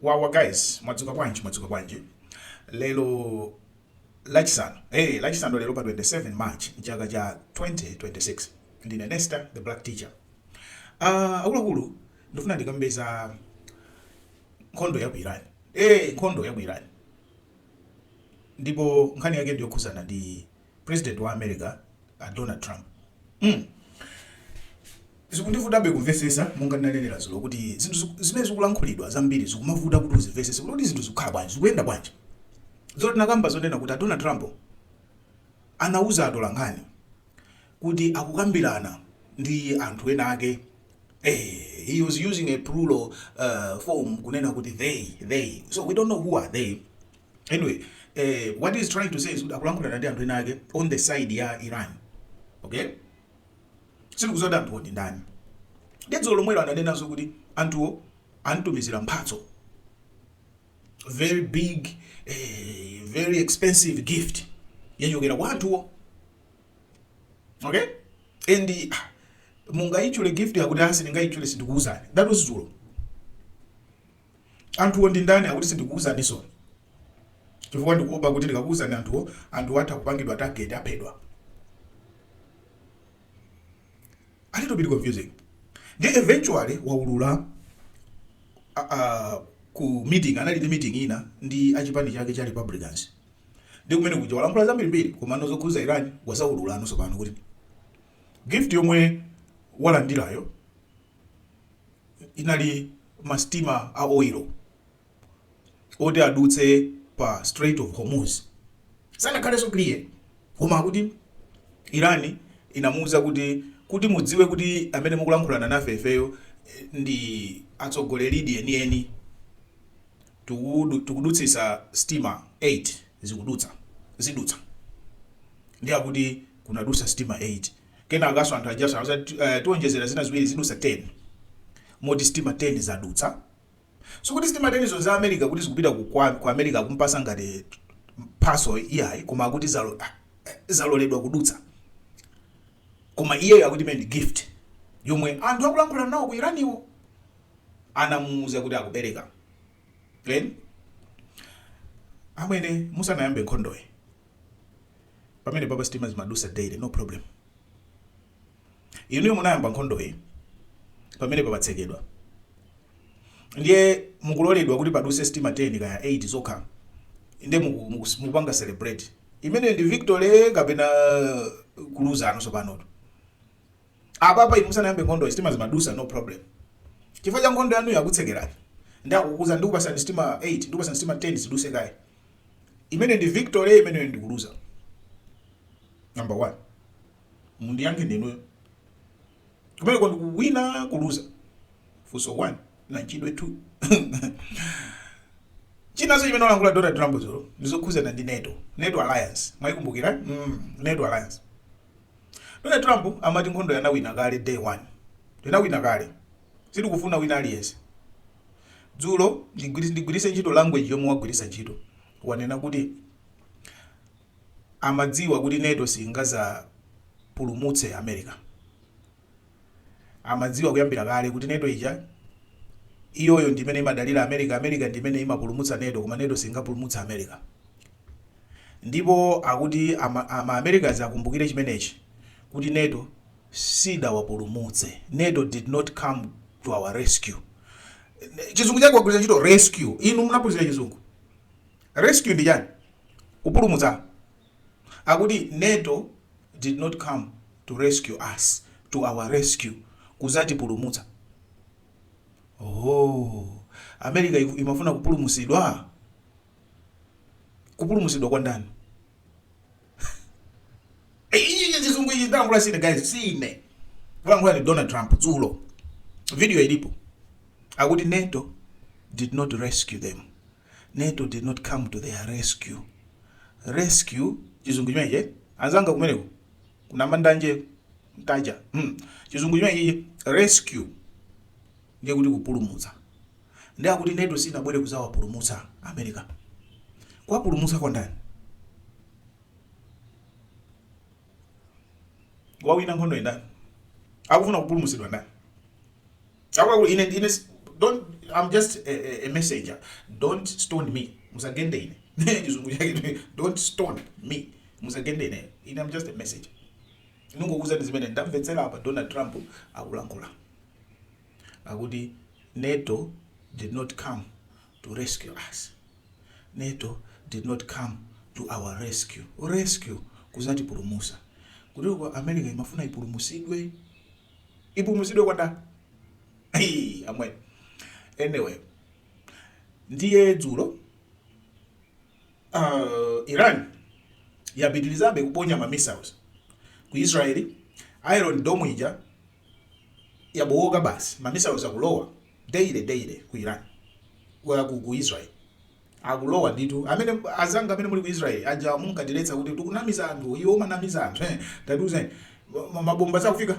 wawa guys mwadzuka bwanji mwadzuka bwanji lero lachisanu hey, lachisanu lero pa 27 march mchaka cha 2026 ndine nesta the black teacher uh, akuluakulu ndifuna ndikambe za nkhondo ya ku iran hey, nkhondo ya ku iran ndipo nkhani yake ndiyokhuzana ndi president wa America a Donald Trump mm zikundivutabe kumvesesa monga ndinanenera zulo kuti zinthu zimene zikulankhulidwa zambiri zikumavuta kuti uzimvesese kuti zinthu zikukhala bwanji zikuyenda bwanji dzulo tinakamba zonena kuti a Donald Trump anauza atolankhani kuti akukambirana ndi anthu ena ake eh, he was using a plural uh, form kunena kuti they they so we don't know who are they anyway eh, what he's trying to say is kuti akulankhulana ndi anthu ena ake on the side ya iran okay sindikuziwa kuti anthuwo ndi ndani ndidzulo lomwelo ananenanso kuti anthuwo amtumizira mphatso very big eh, very expensive gift yochokera kwa anthuwo okay and ah, mungayichule gift yakuti asi ndingayichule sindikuwuzani that was dzulo Anthuwo ndi ndani? Akuti sindikuuzaninso chifukwa ndikuopa kuti ndikakuuzani anthuwo, anthuwo atha kupangidwa target, aphedwa. A little bit confusing. Ndiye eventually waulula a- a- ku meeting, anali ndi meeting ina yake ndi achipani chake cha Republicans. Ndi kumene kuja walankhula zambirimbiri komano zokhuza Iran wadzaulula anansopano kuti gift yomwe walandirayo inali ma sitima a oil oti adutse pa Strait of Hormuz. Sanakhalenso clear koma akuti Iran inamuuza kuti, kuti mudziwe kuti amene mukulankhulana nafe ifeyo ndife atsogoleridi enieni, tikudutsitsa sitima 8 zikudutsa, zidutsa. Ndiye akuti kunadusa sitima 8. Kenakanso anthu ajanso anauza kuti eh, tionjezera zina ziwiri zidusa 10 moti sitima 10 zadutsa sikuti sitima 10 zo za america kuti zikupita ku, kwa, ku america akumpasa ngati mphaso iyayi koma akuti zalo, ah, eh, zaloledwa kudutsa koma iyeyo akuti imeneyi ndi gift yomwe anthu akulankhulana nawo ku iraniwo anamuuza kuti akupereka Then amwene musanayambe nkhondoyi pamenepapa sitima zimadusa daily no problem inuyo munayamba nkhondoyi pamenepa patsekedwa ndiye mukuloledwa kuti paduse sitima 10 kaya 8 zokha nde mukupanga celebrate imeneyi ndi victory kapena kuluza anu sopanoto apapa inu musanayambe nkhondoyi sitima zimadusa no problem chifukwa cha nkhondo yanuyo akutsekerani ndi akukuuzani ndikupasani sitima 8 ndikupasani sitima 10 ziduse kaye imeneyo ndi victory imeneyo ndi kuluza number 1 mundiyankhe ndinuyo kumeneko ndikuwina kuluza funso 1 nachidwi 2 chinanso chimene walankhula donald trump dzulo ndizokhuzana ndi nato nato alliance mwayikumbukira mm, nato alliance Donald Trump amati nkhondoyi anawina kale day 1. Tinawina kale. Sitikufuna wina aliyense. Dzulo, ndigwiritse ntchito language yomwe wagwiritsa ntchito, wanena kuti amadziwa kuti nato singazapulumutse America. amadziwa kuyambira kale kuti Nato ija, iyoyo ndi imene imadalira America, America ndi imene imapulumutsa Nato koma Nato singapulumutse America. Ndipo akuti ama, ama Americans akumbukire chimenechi kuti Nato sidawapulumutse. Nato did not come to our rescue. Chizungu chake wagwiritsa ntchito rescue. Inu munaphunzira chizungu. Rescue ndi chani? Kupulumutsa. akuti Nato did not come to rescue us to our rescue kuzatipulumutsa ooh America imafuna kupulumusidwa? kupulumusidwa kwa ndani? ichi chizungu ichi walankhula sine guys sine walankhula ni Donald Trump dzulo video ilipo akuti Nato did not rescue them Nato did not come to their rescue. Rescue chizungu chimenechi eh? Anzanga kumeneko ku Namandanje Ntaja hmm. chizungu chimenechi rescue ndiye kuti kupulumutsa ndiye akuti Nato sinabwere kuzawapulumutsa America kuwapulumutsa kwa ndani wawina nkhondo ndani akufuna kupulumutsidwa ndani Chakwaul ine ndine don't I'm just a, a, a messenger don't stone me musagende ine chizungu chake don't stone me musagende ine ine I'm just a messenger ndikungokuuzani zimene ndamvetsera apa Donald Trump akulankhula akuti NATO did not come to rescue us NATO did not come to our rescue rescue kuzatipulumusa kuti America imafuna ipulumusidwe ipumuzidwe kwa nda Ayii, amwene anyway ndiye dzulo uh, iran yapitirizabe kuponya ma missiles ku israel iron dome ija yabowoka basi ma missiles akulowa daily daily ku iran wa ku, ku israel akulowa ndithu amene azanga amene muli ku Israel aja munkatiletsa kuti tikunamiza anthu iwe umanamiza anthu eh tatiuzeni mabomba sakufika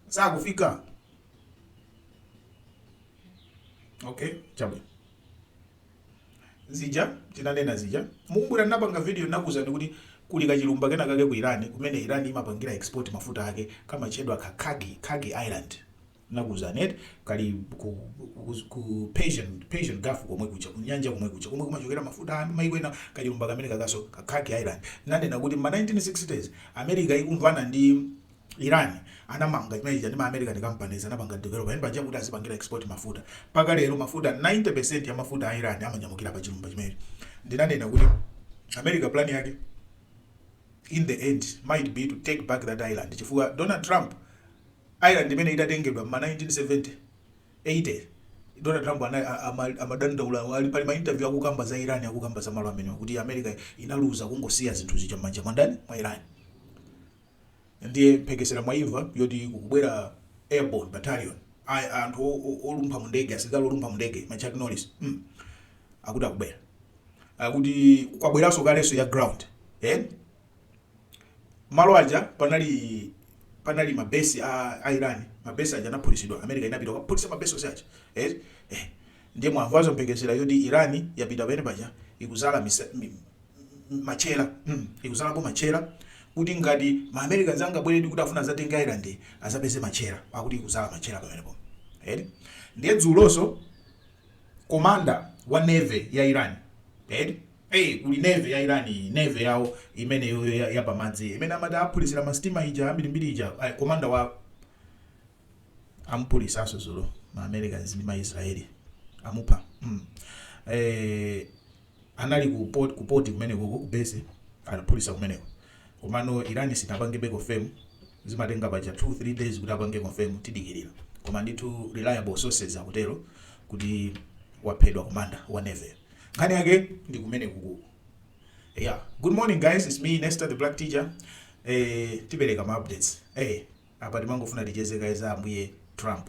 sakufika okay chabwino zija tinanena zija mukumbukira ndinapanga video ndinakuuzani kuti kuli kachilumba kena kake ku Iran kumene Iran imapangira export mafuta ake kamatchedwa ka Kharg Kharg Island nakuuzani eti kali ku, ku, ku Persian, Persian Gulf komwe kuja kunyanja komwe kuja komwe kumachokera mafuta a maiko ena kachilumba kamene kakaso ka Kharg Island nanena kuti ma 1960s America ikumvana ndi Iran anamanga chimene chija ndi ma American companies anapanga develop yani paja kuti azipangira export mafuta paka lero mafuta 90% ya mafuta a Iran amanyamukira pa chilumba chimenechi ndinanena kuti America plan yake in the end might be to take back that island chifukwa Donald Trump Island imene itatengedwa mma 1970, 80, Donald Trump anali amadandaula ali pali ma interview akukamba za Iran akukamba za malo amenewa kuti America inaluza kungosiya zinthu zija mmanja mwa ndani? Mwa Iran. Ndiye mphekesera mwaimva yoti kubwera airborne battalion a anthu olumpha mundege asilikali olumpha mundege ma Chuck Norris mm akuti akubwera. Akuti kwabweranso kalenso ya ground. malo aja panali panali mabesi a, a Iran mabesi aja anaphulitsidwa America inapita kukaphulitsa mabesi onse aja eh, eh. ndiye mwamvanso mphekesera yoti Iran yapita pene paja ikudzala matchera mm, ikudzalapo matchera kuti ngati ma Americans azangabwera kuti afuna azatenge island azapeze matchera akuti ikudzala matchera pamenepo eh ndiye dzulonso komanda wa navy ya Iran eh a. Kuli Navy ya Iran iyi, Navy yawo imeneyoyo ya ya pamadzi imene amataphulitsira ma steamer ija ambirimbiri ija, ai, commander wa. amuphulitsanso dzulo, ma Americans ndi ma Israel amupha. mm. eh, anali ku port, ku port kumenekoko ku base anaphulitsa kumeneko komano Iran sinapangebe confirm zimatenga paja 2 3 days kuti apange confirm tidikirira koma ndithu reliable sources akutero kuti waphedwa commander wa navy nkhani yake ndi kumenekuku yeah good morning guys it's me Nesta the black teacher eh tipereka ma updates eh apa timangofuna ticheze guys ambuye Trump